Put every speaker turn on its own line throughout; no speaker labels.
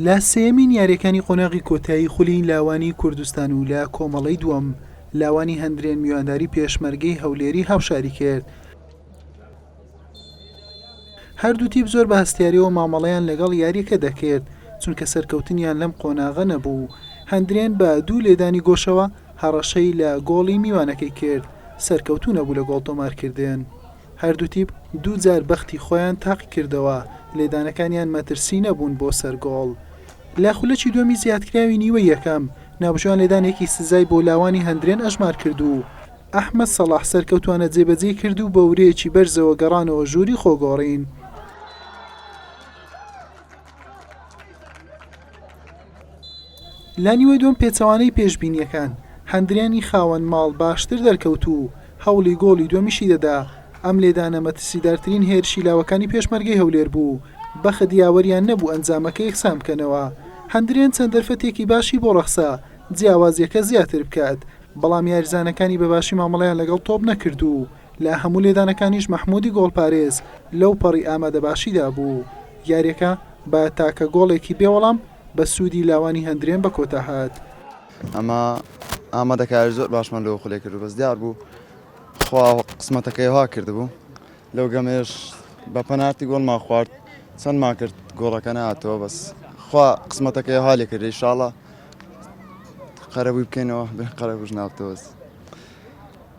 لە سێیەمین یاریەکانی قۆناغی کۆتایی خولی لاوانی کوردستان و لە کۆمەڵەی دووەم لاوانی هەندرێن میوانداری پێشمەرگەی هەولێری هاوشاری کرد هەردوو تیپ زۆر بە هەستیارەوە مامەڵەیان لەگەڵ یاریەکە دەکرد چونکە سەرکەوتنیان لەم قۆناغە نەبوو هەندرێن بە دوو لێدانی گۆشەوە هەڕەشەی لە گۆڵی میوانەکەی کرد سەرکەوتو نەبوو لە گۆڵ تۆمارکردن هەردوو تیپ دوو جار بەختی خۆیان تاقی کردەوە، لێدانەکانیان مەترسی نەبوون بۆ سەر گۆڵ. لە خولەکی دووەمی زیادکراوی نیوەی یەکەم، ناوبژیوان لێدانێکی سزای بۆ لاوانی هەندرێن ئەژمار کرد و ئەحمەد سەڵاح سەرکەوتووانە جێبەجێی کرد و بە ورەیەکی بەرزەوە گەڕانەوە ژووری خۆگۆڕین. لە نیوەی دووەم پێچەوانەی پێشبینییەکان، هەندریانی خاوەن ماڵ باشتر دەرکەوت و هەوڵی گۆڵی دووەمیشی دەدا، ئەم لێدانە مەترسیدارترین هێرشی لاوەکانی پێشمەرگەی هەولێر بوو، بەخت یاوەریان نەبوو ئەنجامەکە یەکسان بکەنەوە، هەندریان چەند دەرفەتێکی باشی بۆ رەخسا جیاوازییەکە زیاتر بکات، بەڵام یاریزانەکانی بەباشی مامەڵەیان لەگەڵ تۆپ نەکرد و لە هەموو لێدانەکانیش مەحمودی گۆڵپارێز لەو پەڕی ئامادەباشیدا بوو، یاریەکە بە تاکە گۆڵێکی بێ وەڵام بە سوودی لاوانی هەندرێن بە کۆتا هات. ئەمە
ئامادەکاری زۆر باشمان لەو خولەی کردو بەس دیار بوو خوا قسمەتەکەی وا کردبوو لەو گەمەیش بە پەنارتی گۆڵمان خوارد چەندمان کرد گۆڵەکە ناتەوە بەس خوا قسمەتەکەی وا لێ کردی شاڵە قەرەبووی بکەینەوە بێ قەرەبووش ناوتەوەست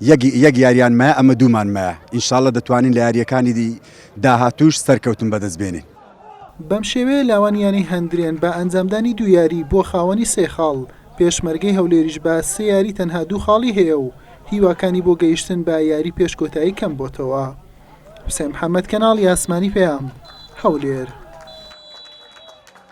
یەک یەک یاریان مایە ئەمە دوومان مایە ئینشاڵە دەتوانین لە یارییەکانی دی داهاتووش سەرکەوتن بەدەست بێنین. بەمشێوەیە
لاوان یانەی هەندرێن بە ئەنجامدانی دوو یاری بووە خاوەنی سێ خاڵ، پێشمەرگەی هەولێریش بە سێ یاری تەنها دوو خاڵی هەیە و هیواکانی بۆ گەیشتن بە یاری پێش کۆتایی کەمبۆتەوە. حوسێن محەمەد کەناڵی ئاسمانی پەیام، هەولێر.